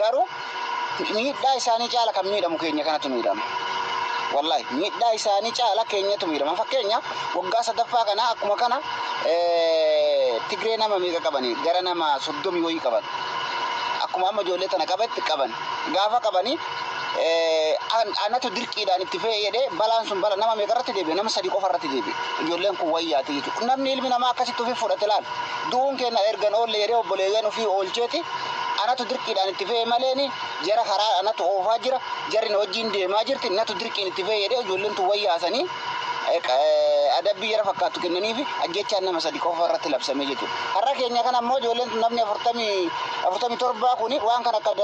Garuu miidhaa isaanii caala kan miidhamu keenya kanatu miidhama. Wallahi miidhaa isaanii caala keenyatu miidhama. Fakkeenya waggaa sadaffaa kana akkuma kana Tigree nama meeqa qabani? Gara nama soddomi wayii qaban. Akkuma amma ijoollee tana qabetti qaban. Gaafa qabanii anatu dirqiidhaan itti fe'e jedhee balaan sun bala nama meeqa irratti deebi'e? Nama sadii qofa irratti deebi'e. Ijoolleen kun wayyaati jechuudha. Namni ilmi namaa akkasitti ofii fudhate laal. Du'uun keenya ergan oolle jedhee obboleeyyan ofii oolcheeti. Anatu dirqiidhaan itti fe'e maleeni jara karaa anatu oofaa jira, jarri na wajjiin deemaa jirti, natu dirqiin itti fe'e jedhee ijoolleen tun wal yaasanii adabbii jara fakkaattu kennaniifi ajjeechaan nama sadi qofa irratti labsame jechuudha. Har'a keenya kana immoo ijoolleen tun namni afurtamii afurtamii torbaa kuni waan kana akka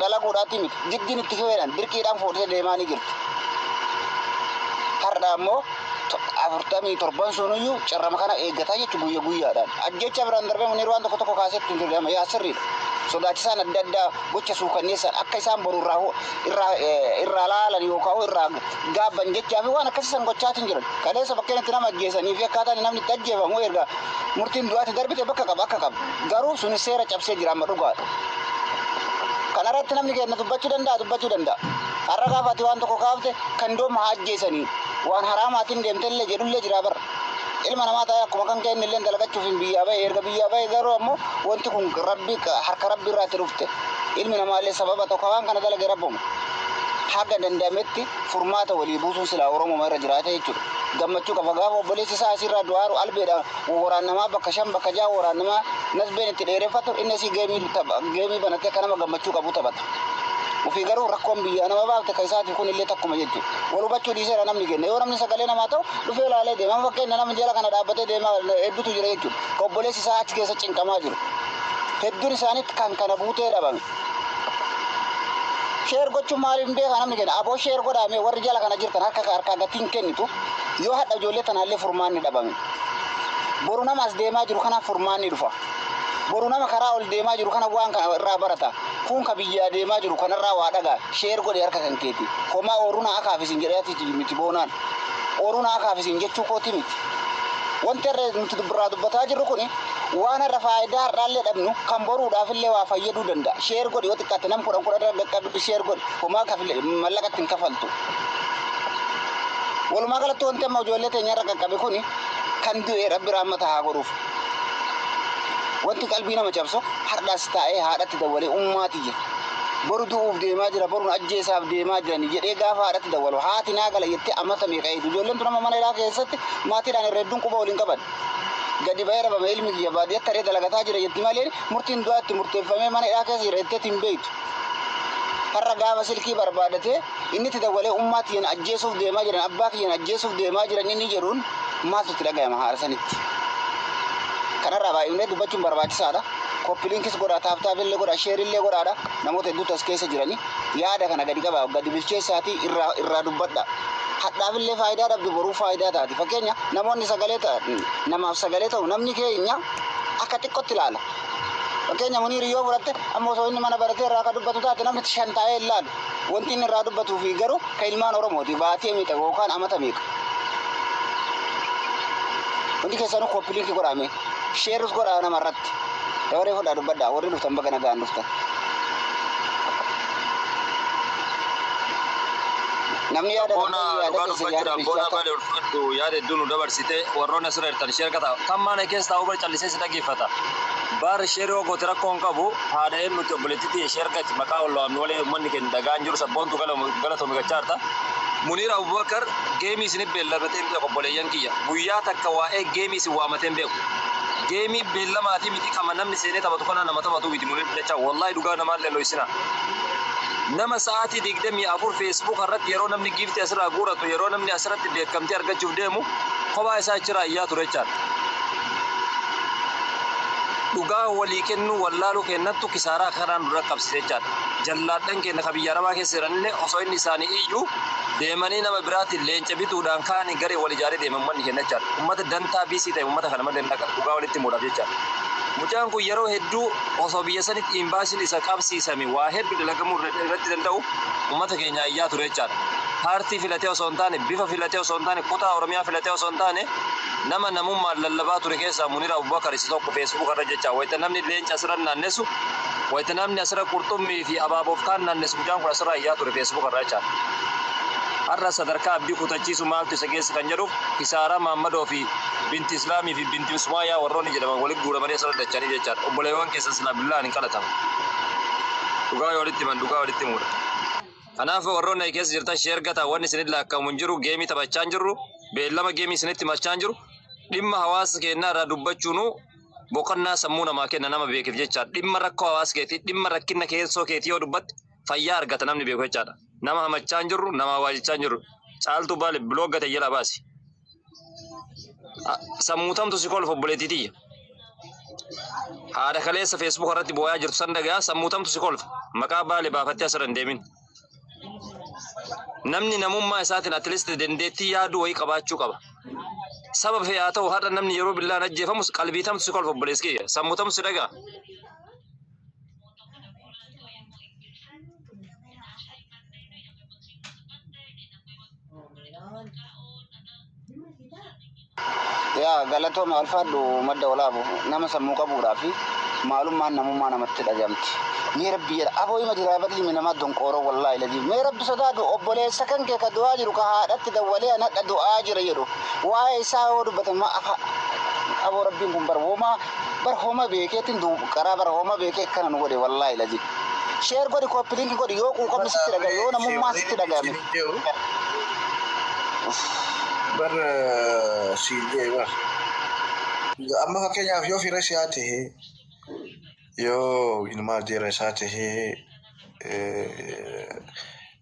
dalaguudhaatti miti. Jiddiin itti fe'eedhaan dirqiidhaan fuudhee deemaanii jirti. Har'a immoo afurtamii torban sunuyyuu carrama kana eeggataa jechu guyya guyyaadhaan. Ajjecha biraan darbee Muniir waan tokko tokko kaasee ittiin dirgama yaa sirriidha. Sodaachisaan adda addaa gocha suukanneessaan akka isaan boru irraa hu- irraa eh, irraa laalan yookaan hoo irraa gaabban jechaa fi waan akkasii san gochaatiin jiran. Kaleessa bakkeen itti nama ajjeesanii fi akkaataan namni itti ajjeefamu erga murtiin du'aatti darbite bakka qaba akka qaba. Garuu suni seera cabsee jira amma dhugaadha. Kana irratti namni keenya dubbachuu danda'a dubbachuu danda'a. Har'a gaafa ati waan tokko kaafte kan dooma haa ajjeesanii. Waan haraamaatiin deemtellee jedhullee jiraa bar. Ilma namaa ta'ee akkuma kan kee innilleen dalagachuufiin biyyaa bahe. Erga biyyaa bahe garuu ammoo wanti kun Rabbi harka Rabbi irraa itti dhufte. Ilmi namaallee sababa tokko waan kana dalage Rabbuma. Haga danda'ametti furmaata walii buusuun silaa Oromuma irra jiraata jechuudha. Gammachuu qaba. Gaafa obboleessi isaa asii irraa du'aa aaru albeedhaan wawwaraannamaa bakka shan bakka ja'a wawwaraannamaa nasbeen itti dheereffatu inni asii geemii tapha geemii banatee akka nama gammachuu qabuu taphata. Ufii garuu rakkoon biyyaa nama baafte ka isaatiif kun illee takkuma jechu. Wal hubachuu dhiiseera namni kenna. Yoo namni sagalee namaa ta'u dhufee laalee deema. Amma fakkeenya nama jala kana dhaabbatee deema heddutu jira jechu. Ka obboleessi isaa achi keessa cinqamaa jiru. Hedduun isaanii kan kana buutee dhabame. Sheer gochuun maaliif hin beekaa namni kenna. Aboo sheer godhaa mee warri jala kana jirtan harka harkaa gatii hin kennitu. Yoo hadha ijoollee tanaallee furmaanni dhabame. Boru nama as deemaa jiru kanaaf furmaanni dhufa. Boru nama karaa ol deemaa jiru kana waan kana irraa barata. Kuun ka biyyaa deemaa jiru kanarraa waa dhaga. Share godhi harka kan keeti. Homaa ooruu naa akaaf isin jedhee ati miti boonaan. Ooruu naa akaaf isin jechuu kooti miti. Wanti har'a nuti dubbirraa dubbataa jirru kuni waan har'a faayidaa har'aallee dhabnu kan boruudhaafillee waa fayyaduu danda'a. Share godhi yoo xiqqaate nam kudhan kudhan irra dhaqqabi share godhi. Homaa kafile mallaqatti hin kafaltu. Walumaa galatti wanti amma ijoollee teenya irra qaqqabe kuni kan du'e rabbi raammata haa godhuuf. Wanti qalbii nama cabsu hardhas taa'ee haadhatti dawwalee ummaa tiyya boru du'uuf deemaa jira borun ajjeesaaf deemaa jirani jedhee gaafa haadhatti dawwalu haati naa gala jettee amata meeqa eegdu ijoolleen tun amma mana ilaa keessatti maatiidhaan irra hedduun quba waliin qaban gadi ba'ee dhabame ilmi kiyya baadiyyatti haree dalagataa jira jetti malee murtiin du'aa itti murteeffamee mana ilaa keessa jira jetteetti hin beektu har'a gaafa silkii barbaadatee Inni itti dawwalee ummaa tiyya na ajjeesuuf deemaa jiran, abbaa kiyya na ajjeesuuf deemaa jiran inni jedhuun maaltu itti dhagayama haala sanitti? Kanarraa baay'ifnee dubbachuun barbaachisaadha. Copy links godhaa, tap tap illee godhaa, share illee godhaadha. Namoota hedduutu as keessa jirani. Yaada kana gadi qabaa, gadi bilcheessaatii irraa irraa dubbadhaa. Hadhaaf illee faayidaa dhabdu boruuf faayidaa taati. Fakkeenya namoonni sagalee ta, namaaf sagalee ta'u namni keenya akka xiqqootti ilaala. Fakkeenya Muniir yoo fudhatte amma osoo inni mana baratee irraa akka dubbatu taate namni shan taa'ee hin laalu. Wanti inni irraa dubbatuu fi garuu kan ilmaan Oromooti baatee meeqa yookaan amata meeqa. Hundi keessanuu koppiliinki godhaame. Sheerus godhaa nama irratti. Dabaree fudhaa dubbadhaa warri dhuftan baga nagaan dhuftan. Namni yaada Boona dhabdee yaada dhugaa keessan dubbachuudhaan yaada boona bilchaataa. baay'ee ulfaadhu yaada hedduu nu dabarsite warroonni asirra jirtan sheer kata kan maana keessa taa'u bar callisee si dhaggeeffata baar sheer yoo goote rakkoo hin qabu Haadha eennuutti obboleettii tiyya ishee argati maqaa wal waamnu malee ummanni keenya dhagaa hin jiru sabboontu galatoomi gachaa jirta. Muniir Abubakar geemii isinif beelladhee hin beeku obboleeyyan kiyya guyyaa takka waa'ee geemii isin waamatee hin beeku geemii beellamaatii miti qama namni seenee taphatu kanaa nama taphatuu miti muniir dachaa wallahi dhugaa namaa illee hin dhoysinaa nama sa'aatii 24 feesbuuka irratti yeroo namni giiftii asirraa guuratu yeroo namni asirratti beekamtii argachuuf deemu kophaa isaa achiraa iyyaa ture jechaan Dhugaa walii kennuu wallaaluu keennattu kisaaraa akka kanaa nu dhaqqabsiise jechaadha. Jallaadhan keenna ka biyya Arabaa keessa jiranillee osoo inni isaanii iyyu deemanii nama biraatiin leenca bituudhaan kaanii gareen wal ijaaree deema ummanni keenna jechaadha. Ummata dantaa biisii ta'e ummata kana malee hin dhaqan dhugaa walitti himuudhaaf jechaadha. Mucaan kun yeroo hedduu osoo biyya sanitti imbaasiin isa qabsiisame waa hedduu dalagamuu irra- irratti danda'u ummata keenyaa iyyaa ture jechaadha. Paartii filatee osoo hin taane, bifa filatee osoo hin taane, kutaa Oromiyaa filatee osoo hin taane Nama namummaan lallabaa ture keessaa Munir Abubakar isa tokko Facebook irra jecha wayita namni leenca asirra naannessu wayita namni asirra qurxummii fi abaaboof kaan naannessu mucaan kun asirraa iyyaa ture Facebook irra jecha. Har'a sadarkaa abdii kutachiisu maaltu isa geesse kan jedhuuf kisaaraa Maammadoo fi Binti Islaamii fi Binti Usmaayaa warroonni jedhaman walitti guuramanii asirra dacha'anii jechaadha. Obboleewwan keessan silaa billaa'an hin qalatamu. Dhugaa yoo walitti himan dhugaa walitti himuudha. Kanaaf warroonni achi keessa jirtan sheer gataa wanni isinitti laakka'amu hin jiru geemii taphachaa hin jirru beellama geemii isinitti himachaa hin jiru dhimma hawaasa keenyaa irraa dubbachuunuu boqonnaa sammuu namaa kenna nama beekeef jechaadha dhimma rakkoo hawaasa keetii dhimma rakkinna keessoo keetii yoo dubbatte fayyaa argata namni beeku jechaadha nama hamachaa hin jirru nama hawaajichaa hin jirru caaltuu baale biloog gate jala baasi. Sammuutamtu si kolfa obboleettii tiyya. Haadha kaleessa feesbuuka irratti boo'aa jirtu san dhagaa sammuutamtu si kolfa. Maqaa baale baafattee asirra hin deemin. Namni namummaa isaatiin atleast dandeettii yaaduu wayii qabaachuu qaba. Saba fee haa ta'u har'a namni yeroo billaan ajjeefamus qalbiitamtu si kolfa obboleessi kiyya. Sammuutamtu si dhagaa. yaa galatooma alfaadhu madda olaabu nama sammuu qabuudhaa fi maalummaan namummaa namatti dhagahamti. Mee rabbi jedha aboo hima jiraa badii mi namaa donqooroo wallaahi lajii mee rabbi sodaadhu obboleessa kan kee ka du'aa jiru ka haadhatti dawwalee anadha du'aa jira jedhu waa'ee isaa yoo dubbatan ma afa aboo rabbiin kun bara womaa Bar homa beekeetin du qaraa bar homa beekee akkana nu godhe wallaahi lazi. Sheer godhi kooppi linki godhi yoo quuqamni sitti dhaga'e yoo namummaan sitti dhaga'ame. Bar siif ga'e bar. Amma fakkeenyaaf yoo fira isaa ta'e yoo ilmaa deera isaa ta'e